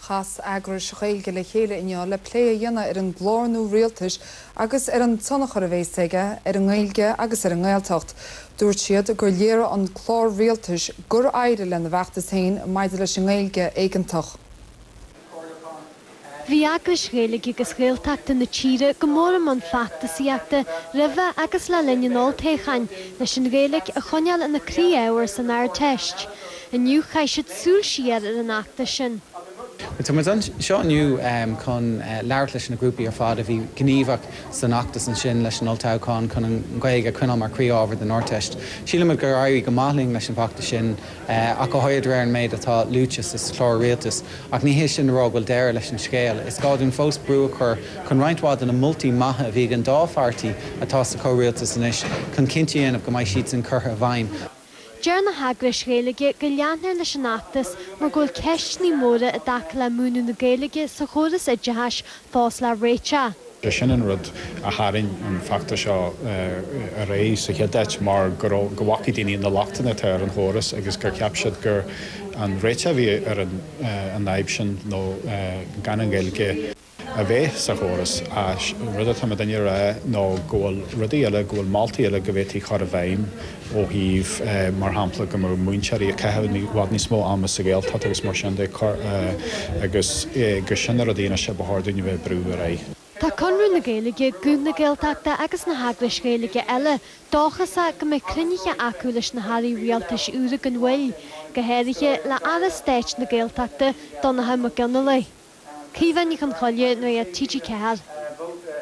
Chas eagrais Ghaeilge le chéile inniu le plé a dhéanamh ar an gclár nua rialtais agus ar an tionchar a bhéas aige ar an nGaeilge agus ar an nGaeltacht. Dúirt siad gur léirigh an clár rialtais gur éirigh lena bhfeachtas féin maidir leis an nGaeilge éigeantach. Bhí eagrais Ghaeilge agus Ghaeltachta na tíre go mór i mbun feachtasaíochta roimh agus le linn an olltoghcháin leis an Ghaeilge a choinneáil ina croí-ábhar san Ardteist. Inniu chaith siad súil siar ar an fheachtas sin. Tá muid anseo inniu chun labhairt leis na grúpaí ar fad a bhí gníomhach san fheachtas ansin roimh an olltoghchán chun an Ghaeilge a choinneáil mar chroí-ábhar don Ardteist. Síleann muid gur éirigh go maith linn leis an bhfeachtas sin ach go háirid de réir an méid atá luaite sa Chlár Rialtais. Ach ní hé sin le rá go bhfuil deireadh leis an scéal. Is gá dúinn fós brú a chur chun roinnt mhaith de na moltaí maithe a bhí ag an dá pháirtí atá sa chomhrialtas anois chun cinnte a dhéanamh go mbeidh siadsan curtha i bhfeidhm. Deir na heagrais Ghaeilge go leanfar leis an fheachtas mar go bhfuil ceisteanna móra i dtaca le múineadh na Gaeilge sa chóras oideachais fós le réiteach. B'shin an rud a tharraing an feachtas seo ar aghaidh sa chéad áit, mar go bhfaca daoine na lochtanna atá ar an chóras agus gur cheap siad gurb é an réiteach a bhí ar an fhadhb sin nó gan an Ghaeilge. a bheith sa chóras. Ach rud atá muidinne ag rá nó go bhfuil rudaí eile, go bhfuil moltaí eile go bhféadfaí a chur i bhfeidhm ó thaobh, mar shampla, go mbeadh múinteoirí ag caitheamh i bhfad níos mó ama sa Ghaeltacht agus mar sin de, agus gur sin na rudaí anois a ba chóir dúinn a bheith ag brú ar aghaidh. Tá Conradh na Gaeilge, Guth na Gaeltachta agus na heagrais Ghaeilge eile dóchasach go mbeidh cruinnithe acu leis na hairí rialtais úra gan mhoill, go háirithe le Aire Stáit na Gaeltachta, Donnchadh Mac Fhionnlaoich. Caoimhe Ní Chonchoille, Nuacht TG4.